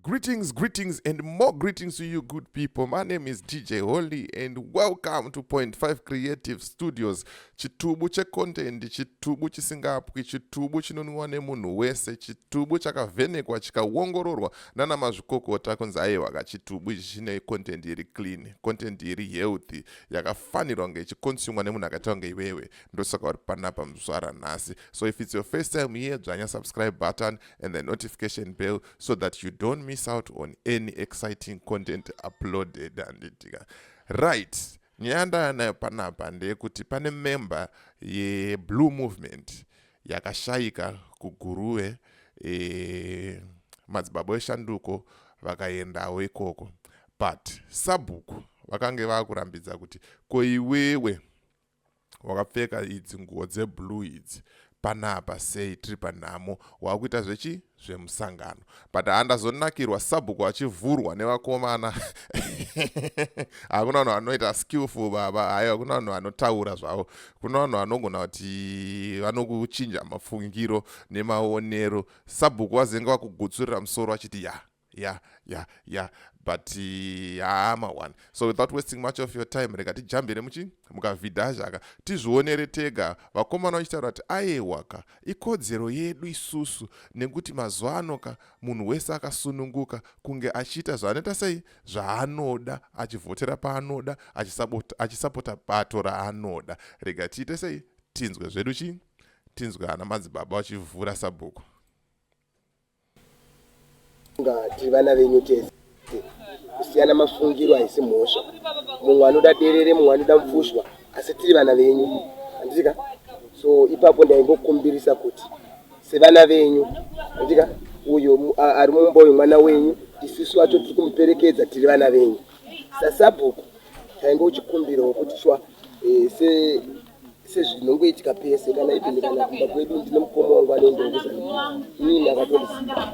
Greetings, greetings, and more greetings to you, good people. My name is DJ Holy, and welcome to Point Five Creative Studios. Chitubu che content, chitubu chisingapwi, chitubu chinonwiwa nemunhu wese, chitubu chakavhenekwa chikawongororwa nana mazvikokota kunzi aiwa ka chitubu ichi chine content iri clean, content iri healthy, yakafanirwa kunge ichikonsumwa nemunhu akaita kunge iwewe. Ndosaka uri panapa muzvara nhasi. So if it's your first time here, dzvanya subscribe button and the notification bell so that you don't miss out on any exciting content uploaded handitika right nyaya yandayanayo panapa ndeyekuti pane member yeblue movement yakashayika kuguruve e, madzibaba eshanduko vakaendawo ikoko but sabhuku vakange vakurambidza kuti koiwewe wakapfeka idzi nguwo dzeblue idzi panapa sei tiri panhamo wakuita zvechi zvemusangano but handazonakirwa sabhuku achivhurwa nevakomana hakuna vanhu vanoita skillful baba hayi hakuna vanhu vanotaura zvavo kuna vanhu vanogona kuti vanokuchinja mafungiro nemaonero sabhuku vazenge vakugutsurira musoro achiti ya yeah yeah yeah but haa uh, mawan so without wasting much of your time rega tijambire muchi mukavhidha zvaka tizvionere tega vakomana vachitaura kuti ayewa ka ikodzero yedu isusu nekuti mazuva ano ka munhu wese akasununguka kunge achiita zvaanoita sei zvaanoda achivhotera paanoda achisapota bato raanoda rega tiite sei tinzwe zvedu chii tinzwe ana madzibaba vachivhura sabhuku Kufunga tiri vana venyu tese. Kusiyana mafungiro haisi mhosva. Mumwe anoda derere mumwe anoda mupfushwa asi tiri vana venyu. Handiti ka? So ipapo ndaingokumbirisa kuti sevana venyu, handiti ka, uyo ari mumba uyu mwana wenyu, isusu vacho tiri kumuperekedza tiri vana venyu. Sasabhuku taingochikumbirawo kuti shuwa eh, se sezvinongoitika pese kana even kana kumba kwedu ndine mukoma wangu anoendawo kuzanaa ini ndakatondisiya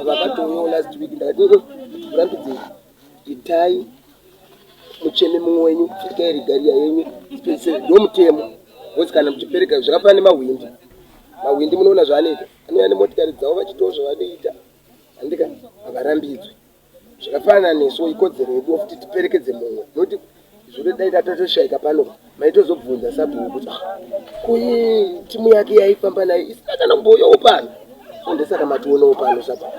vakatouyawo last week ndakati kurambidzei itai mucheme mumwe wenyu itai rigariya yenyu ndomutemo bcause kana muchipereka zvakafana nemahwindi mahwindi munoona zvaanoita anouya nemotikari dzavo vachitawo zvavanoita andika havarambidzwe zvakafanana nesu ikodzero yedu kuti tiperekedze mumwe noti zvoda dai tatotoshaika pano maitozobvunza sabhuku kuti ah, kuyi timu yake yaifamba nayo isina kana kumboyawo pano so ndesaka mationawo pano sabhuku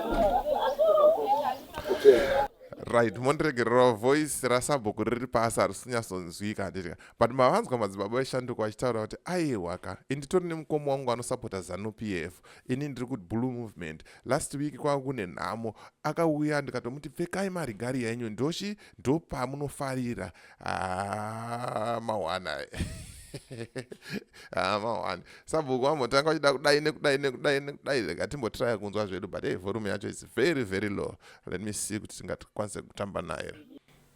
right mondiregererwa voice rasabhuku riri pasi harisinyasonzwika handitika but mavanzwa madzibaba veshanduko vachitaura kuti aihwaka inditori nemukoma wangu anosapota zanupf ini ndiri kuti blue movement last week kwanga kune nhamo akauya ndikatomuti pfekai marigari yenyu ndochi ndopamunofarira ah, mawana ah, mawana sabhuku vambotanga vachida kudai nekudai nekudai nekudai rega timbotiraya kunzwa zvedu but hey volume yacho is very very low let me see kuti tingakwanise kutamba naye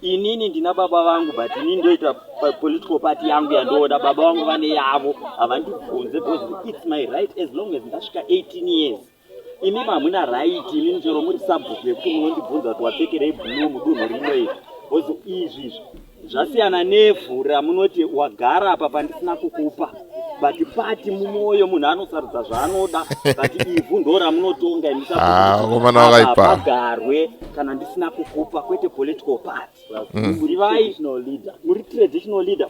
inini ndina baba vangu but ini ndoita political party yangu yandoona baba vangu vane yavo havandibvunze because its my right as long as ndasvika 18 years imi mamuna right ini ndichero muri subject yekuti munondibvunza kuti wapfekerei blue mudunhu rino iri because izvi izvi zvasiyana nevhu ramunoti wagara apa pandisina kukupa but pati mumwoyo munhu anosarudza zvaanoda but ivhu ndo ramunotonga imusakomana ah, vakaipagarwe kana ndisina kukupa kwete political party mm. muri vai muri traditional leader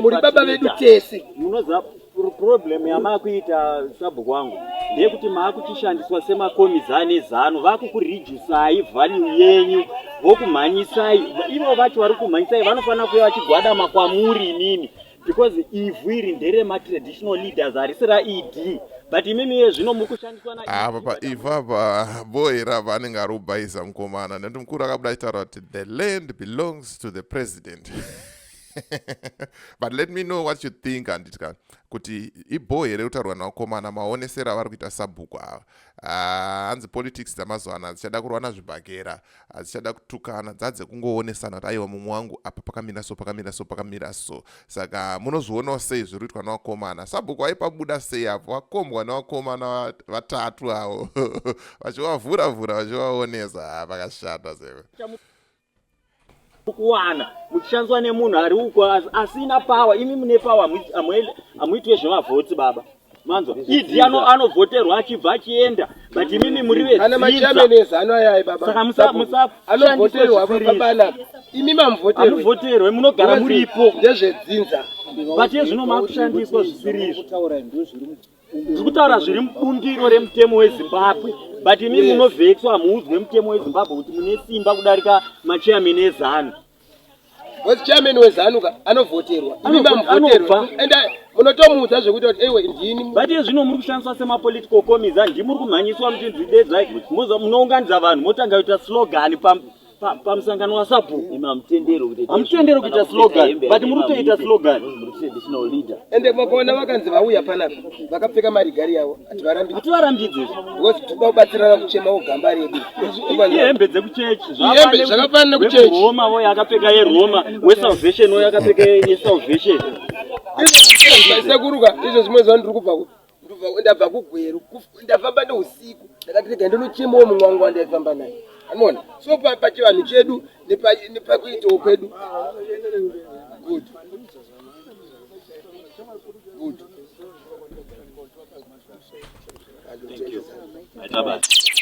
muri baba vedu tese munoziva problem yamakuita sabhuku wangu ndeyekuti maakuchishandiswa semakomizani ezanu vakukurijusai vhanyu yenyu vokumhanyisai ivo vacho vari kumhanyisai vanofanira kuya vachigwadama kwamuri inini because ivhu iri ndere matraditional leaders harisi raed but imimi iye zvino mukushandiswa naapa ah, paivhu apa boera vanenge ari kubhaiza mukomana nekuti mukuru akabuda achitaura kuti the land belongs to the president but let me know what you think anditika kuti ibhoo here kutaurwa nakomana maonesero avari kuita sabhuku ava ah, hanzi politics dzamazuva ano hadzichada kurwa nazvibhakera hadzichada kutukana dzadze kungoonesana kuti aiwa mumwe wangu apa pakamira so pakamira so pakamira so saka munozvionawo sei zviri kuitwa nevakomana sabhuku vaipabuda sei apo vakombwa nevakomana vatatu avo vachivavhura vhura vachivaonesa pakashata seve kuwana muchishandiswa nemunhu ari uko asina power imi mune power hamuitwe zvemavhoti baba manzwa idi anovhoterwa achibva achienda but imimi muri vedziiamushandisweimimamuvhoterwe munogara muripo ndezvedzinza but ezvino makushandiswa zvisiri izvo ndiri kutaura zviri mubundiro remutemo wezimbabwe but imi munovhetswa hamuudzwe mutemo wezimbabwe kuti mune simba kudarika machairman ezanu wes chairman wezanu ka anovhoterwa imi mamvoterwa and munotomuudza zvekuti kuti ewe ndini but iye zvino muri kushandiswa semapolitical comiza ndimuri kumhanyiswa muchinzi dedzai munounganidza vanhu motanga kuita slogan pamusangano wasabhuku hamutendero kuita slogan but muri kutoita slogan ende makaona vakanzi vauya panapa vakapfeka marigari yavo hativarambidzi because tikuda kubatsirana kuchemawo gamba redu ihembe dzekuchechi zvakafanana nekuchechi roma voyo akapfeka yeroma wesalvation voyo akapfeka yesalvation izvo zvimwe zvandiri kubva ndabva kugweru ndafamba neusiku ndakati rega ndinochemawo mumwe wangu wandaifamba naye anona so pachivanhu chedu nepakuitawo kwedu good good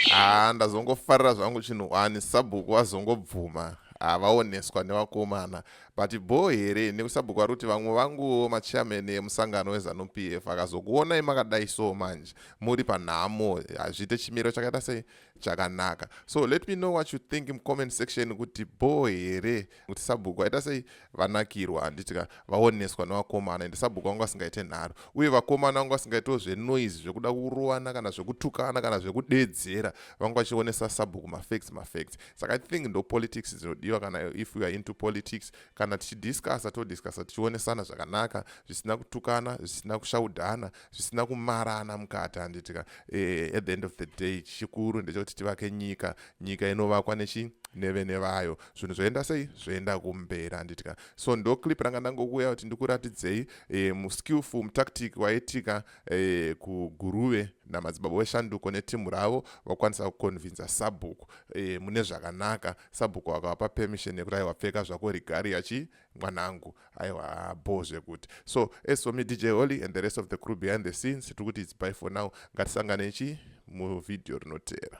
haa ah, ndazongofarira zvangu chinhu wani sabhuku vazongobvuma havaoneswa ah, nevakomana But bhoo here nekusabhuku vari kuti vamwe vanguwo machairman emusangano wezanu PF akazokuonai makadai so manje muri panhamo hazviite chimiro chakaita sei chakanaka so let me know what you think mucomment section kuti bhoo here kuti sabhuku vaita sei vanakirwa handitika vaoneswa nevakomana ende sabhuku vanga vasingaite nharo uye vakomana vanga vasingaitewo zvenoise zvekuda kurovana kana zvekutukana kana zvekudedzera vanga vachionesa sabhuku mafacts mafacts saka i think ndo politics dzinodiwa kana if weare into politics kana tichidiscussa todiscussa tichionesana zvakanaka zvisina kutukana zvisina kushaudhana zvisina kumarana mukati handitika e, eh, at the end of the day chikuru ndechekuti tivake nyika nyika inovakwa nechi nevene vayo zvinhu zvoenda sei zvoenda kumberi handitika so ndo clip ranga ndangokuya kuti ndikuratidzei e, muskillful mutactic waitika eh, kuguruve namadzibaba weshanduko netimhu ravo vakwanisa kukonvinza sabhuku eh, mune zvakanaka sabhuku vakavapa permission yekuti aiwa pfeka zvako rigari yachi mwanangu aiwa bho zvekuti so as for me dj holy and the rest of the crew behind the scenes tiri kuti its by for now ngatisanganei chi muvhidhiyo rinoteera